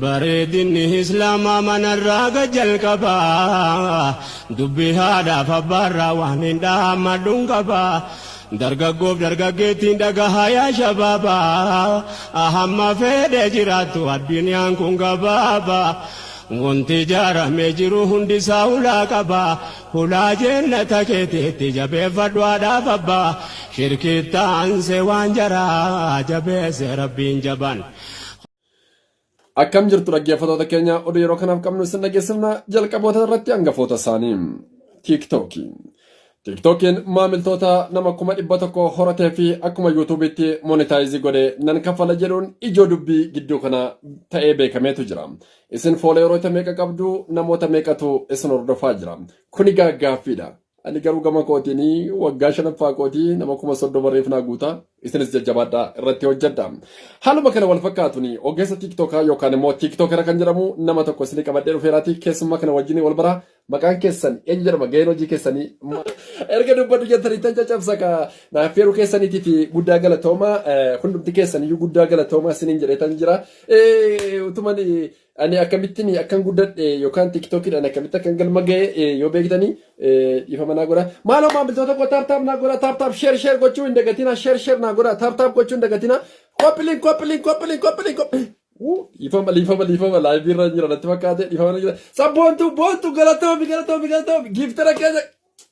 Bareedinni Islaamaa manarraa gad jalqaba. Dubbii haadhaaf abbaarraa waanin dhaammadhun qaba. Dargaggoof dargaggeettiin dhagahaa yaa shabaaba. Hamma fedhe jiraattu addunyaan kun gabaaba. Wanti ijaaramee jiru hundisaa hulaa qaba. Hulaa jennata keetiitti jabeeffadhu haadhaaf abbaa. Shirkiitti aansee waan jaraa jabeesse Rabbiin jabaan. Akkam jirtu dhaggeeffatoota keenya oduu yeroo kanaaf qabnu isin dhageessifna jalqaboota irratti hangafoota isaanii. Tiiktookii. Tiiktookiin maamiltoota nama kuma dhibba tokko horatee fi akkuma yuutuubiitti monetaayizii godhe nan kaffala jedhuun ijoo dubbii gidduu kana ta'ee beekameetu jira. Isin fooleeroota meeqa qabdu namoota meeqatu isin hordofaa jira. Kuni gaaffiidha. Ani garuu gama kootiin waggaa shanaffaa kootii nama kuma soddoma reef naa guuta. Isinis jajjabaadhaa irratti hojjedha. Haaluma kana wal fakkaatuun ogeessa tiiktookaa yookaan immoo tiiktookera kan jedhamu nama tokko isinii qabadhee dhufeeraati keessummaa kana wajjin wal baraa maqaan keessan eenyu jedhama gaheen hojii keessanii erga dubbadhu jettanii tan caccabsa ka naaf feeruu keessaniitii fi guddaa galatooma hundumti keessaniyyuu guddaa galatooma isiniin jedhee tan jira utuman Ani akkamittiin akkan guddadhe yookaan tiktokidhaan akkamitti akkan galma ga'e yoo beektanii dhiifama naa godha. Maaloo maamiltoota koo taaptaap naa godha taaptaap sheer sheer gochuu hin dagatina sheer sheer naa godha taaptaap gochuu hin dagatina koppiliin koppiliin koppiliin koppiliin koppiliin. Dhiifama dhiifama dhiifama laayivii irra jira natti fakkaate dhiifama jira. Sabboontu boontu galatoomi galatoomi galatoomi giiftara keessa.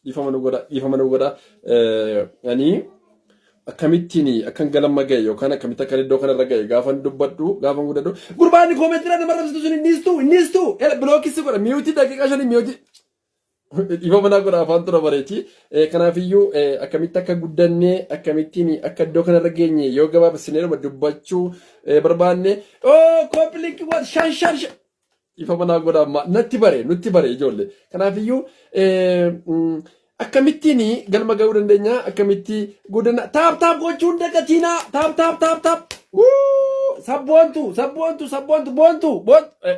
Dhiifama nu godha, dhiifama nu godha. Ani akkamittiin akkan galma ga'e yookaan akkamitti akkan iddoo kanarra ga'e gaafan dubbadhu gaafan guddadhu gurbaan koomeetiidhaan nama rabsitu sun innis tu innis tu bilookis godha miyuutii daqiiqaa shanii miyuutii dhiifa manaa godha afaan tura bareechi kanaafiyyuu akkamitti akka guddannee akkamittiin akka iddoo kanarra geenye yoo gabaabsinee dubbachuu barbaanne oo kooppilinki waan shan shan shan Dhiifama naa godha amma natti bare nutti bare ijoollee. Kanaafiyyuu eh, mm, akkamittiin galma ga'uu dandeenya akkamitti guddina taap taap gochuun dagatiinaa taap taap taap taap Wuu! sabboontu sabboontu sabboontu boontu boontu. Eh,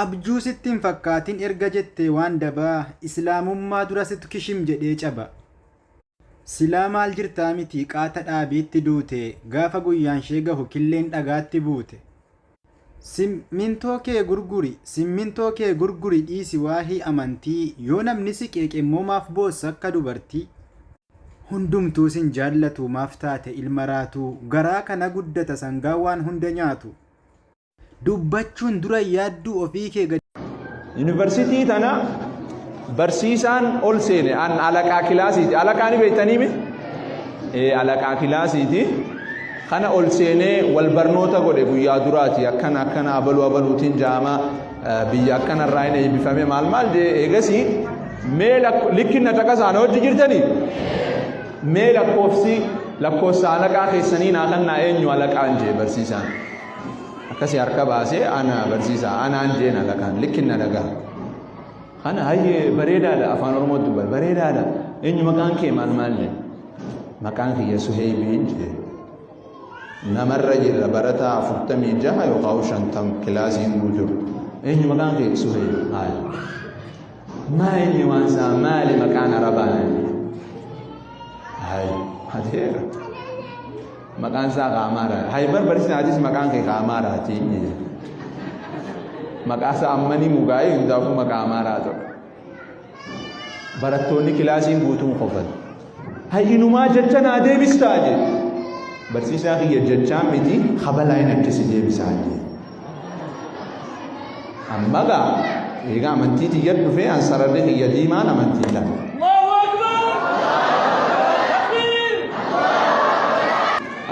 Abjuu sitti hin fakkaatin erga jettee waan dabaa islaamummaa dura situ kishim jedhee caba. Silaa maal jirtaa mitii qaata dhaabiitti duute gaafa guyyaanshee gahu killeen dhagaatti buute. Sim mintoo kee gurguri simmintoo kee gurguri dhiisi waahii amantii yoo namni si qeeqe immoo maaf boossa akka dubartii. Hundumtuu sin jaallatu maaf taate ilma raatuu garaa kana guddata sangaa waan hunda nyaatu. dubbachuun dura yaadduu ofii kee gadi. Yuunivarsiitii tana barsiisaan ol seene an alaqaa kilaasiiti. Alaqaa ni beektanii mi? Ee alaqaa kilaasiiti. Kana ol seenee wal barnoota godhe guyyaa duraati akkana akkana abaluu abaluutiin jaama biyya akkana irraa hin eebbifame maal maal jee eegasii mee likkinna caqasaan hojii jirtanii mee lakkoofsi lakkoofsa alaqaa keessanii naa kannaa eenyu alaqaan jee barsiisaan. akkasi harka baasee ana barsiisa anaan jeen alakaan likkin na dhagaha kana hayyee bareedaadha afaan oromoo dubba bareedaadha eenyu maqaan kee maal maal jee maqaan kiyya suheebiin jee namarra jirra barataa afurtamii jaha yookaan shantam kilaasiin guutuu eenyu maqaan kee suheeb maal maa inni waan isaa maali maqaan arabaa naan jee hayi hateera Maqaan isaa Kaamaara. Hayi barbarsiin atis maqaan kee Kaamaara ati. Maqaa isaa ammanii mugaa'ee hundaafuu maqaa Amaaraa ta'u. Barattoonni kilaasiin guutuun qofan. Hayi inumaa jecha naa deebistaa jedhe. Barsiisaa kiyya jechaa miti habalaa hin akkisi deebisaa jedhe. Amma gaa eega amantii tiyya dhufee an sararri kiyya diimaan amantii ta'a.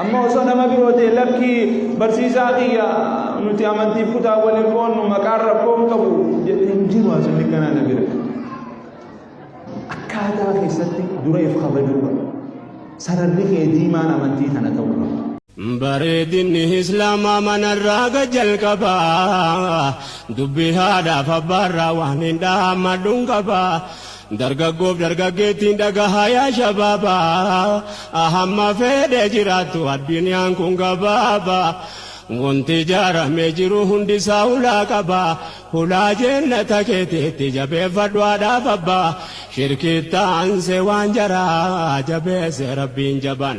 Amma osoo nama biroo ta'e lakkii barsiisaa kiyya nuti amantiif kutaa waliin qoonnu maqaan rakkoo hin qabu jedhee hin jiru haasofni kanaa na bira. Akkaataa keessatti dureef kabajuu qaba. Sararri kee diimaan amantii kana ta'uu qaba. Bareedinni Islaamaa manarraa gad jalqaba. Dubbii haadhaaf abbaarraa waan hin dhaammadhuun qaba. Dargaggoof dargaggeettiin dhagahaa yaa shabaaba. Hamma fedhe jiraattu addunyaan kun gabaaba. Wanti ijaaramee jiru hundisaa ulaa qaba. Hulaa jeennata keetiitti jabeeffadhu haadhaaf abbaa shirkiitti aansee waan jaraa jabeesse rabbiin jabaan